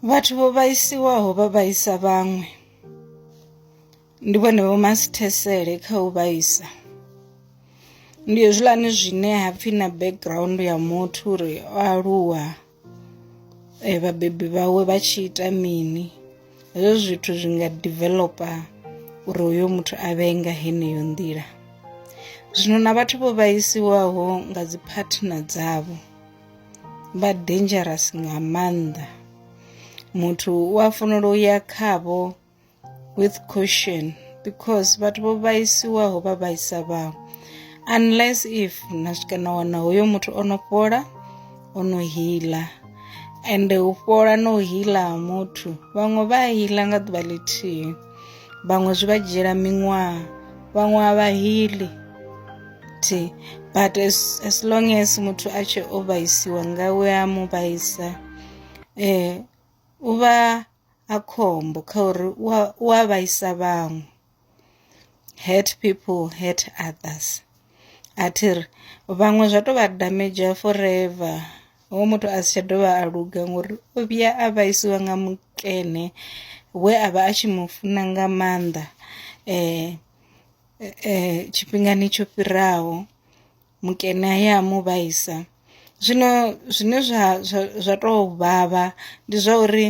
vhathu vho vhaisiwaho vha vhaisa vhaṅwe ndi vhone vho masithesele kha u vhaisa ndi hezwiḽani zwine ha pfhi na background ya muthu uri o aluwa eh, vhabebi vhawe vha tshi ita mini hezwo zwithu zwi nga developa uri uyo muthu a vhe nga heneyo nḓila zwino na vhathu vho vhaisiwaho nga dzi partner dzavho vha dangerous nga maanḓa muthu u a fanela u ya khavho with caution because vhathu vho vhaisiwaho vha vhaisa vhaṅwe unless if na swika na wana hoyo muthu o no fhola o no hila ende u fhola na u hila ha muthu vhaṅwe vha hila nga ḓuvha ḽithihi vhaṅwe zwi vha dzhiela miṅwaha vhaṅwe a vha hili thi but as, as long as muthu a tshi o vhaisiwa nga we a mu vhaisa eh u vha a khombo kha uri u a vhaisa vhaṅwe hurt people hurt others a thi ri vhaṅwe zwa tou vha damager forever hoyu muthu a si tsha dovha a luga ngori o vhuya a vhaisiwa nga mukene we a vha a tshi mu funa nga maanḓa tshifhingani tsho fhiraho mukene he a mu vhaisa. Zwino zwine zwa zwa zwa tou vhavha ndi zwa uri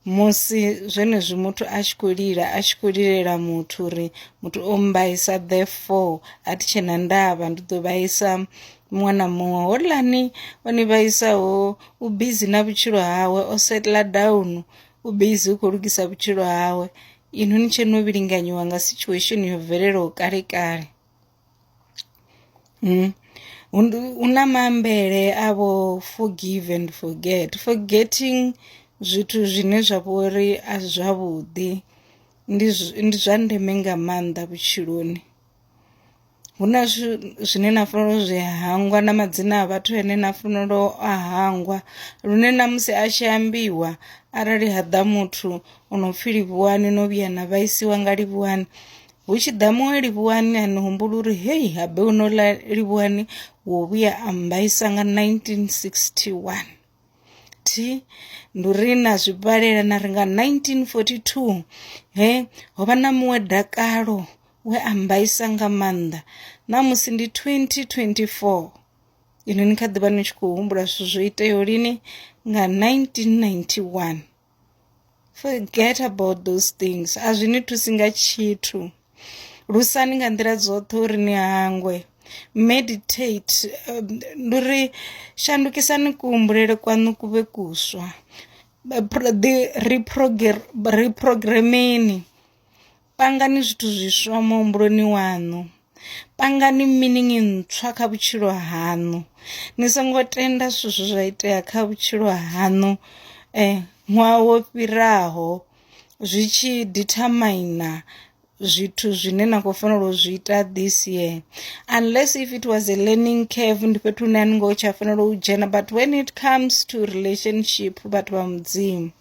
musi zwenezwi muthu a tshi khou lila a tshi khou lilela muthu uri muthu o mmbaisa therefore a thi tshe na ndavha ndi ḓo vhaisa muṅwe na muṅwe holani o ni vhaisaho u bizi na vhutshilo hawe o setla down u bizi u khou lugisa vhutshilo hawe inwi ni tshe no vhilinganyiwa nga situation yo bvelelaho kale kale Mm. Una maambele a vho forgive and forget. Forgetting zwithu zwine zwa vha uri a si zwavhuḓi ndi ndi zwa ndeme nga maanḓa vhutshiloni. Hu na zwine na fanela u zwi hangwa na madzina a vhathu ane na fanela u a hangwa lune na musi a tshi ambiwa arali ha ḓa muthu o no pfhi Livhuwani no vhuya na vhaisiwa nga Livhuwani. hu tshi ḓa muṅwe livhuwani a ni humbula uri hei habe u no ḽa livhuwani wo vhuya a mbaisa nga 1961 thi ndi uri na zwi vhalela na ri nga 1942 he ho vha na muṅwe dakalo we a mbaisa nga maanḓa na musi ndi 2024 ino ni kha ḓivha ni tshi khou humbula zwithu zwo iteaho lini nga 1991 Forget about those things a zwi ni thusi nga tshithu lusani nga nḓila dzoṱhe uri ni hangwe meditate um, ndi uri shandukisani kuhumbulele kwaṋu ku vhe kuswa reprogrammeni Pangani zwithu zwiswa muhumbuloni waṋu. Pangani meaning ntswa kha vhutshilo haṋu. Ni songo tenda zwithu zwe zwa itea kha vhutshilo haṋu ṅwaha wo fhiraho zwi tshi dithamina zwithu zwine na kho fanela u zwi ita this year unless if it was a learning curve ndi fhethu hune a ni ngo tsha fanela u dzhena but when it comes to relationship vhathu vha mudzimu.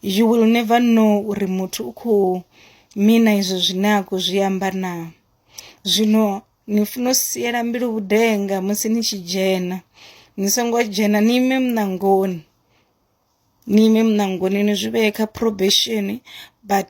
you will never know uri muthu u kho mina izwo zwine a khou zwi amba na. Zwino ni funa u siela mbilu vhudenga musi ni tshi dzhena ni songo dzhena ni ime muṋangoni ni ime muṋangoni ni zwi vhee kha probation but .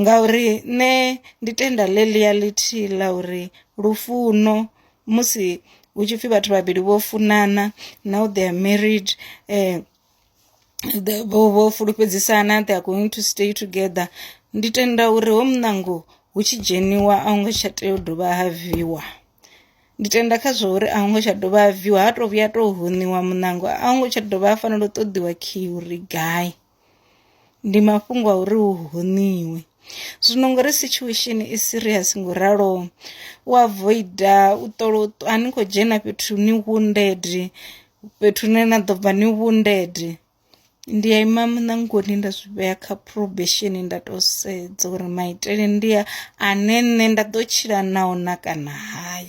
ngauri nṋe ndi tenda ḽe ḽi ya ḽithihi ḽa uri lufuno musi hu tshi pfhi vhathu vhavhili vho funana na u ḓea married vho fulufhedzisana they are going to stay together ndi tenda uri ho muṋango hu tshi dzheniwa a hu ngo tsha tea u dovha ha viiwa. Ndi tenda kha zwa uri a hu ngo tsha dovha ha viiwa ha tou vhuya tou huniwa muṋango a hu ngo tsha dovha ha fanela u ṱoḓiwa khiyi uri gai. Ndi mafhungo a uri hu honiwe zwino ngori situation i serious ngo u ralo u avoida u ṱola a ni kho dzhena fhethu ni wounded fhethu hune na ḓo bva ni wounded. Ndi a ima muṋangoni nda zwi vhea kha probation nda to sedza uri maitele ndi a ane nṋe nda ḓo tshila nao na kana hai .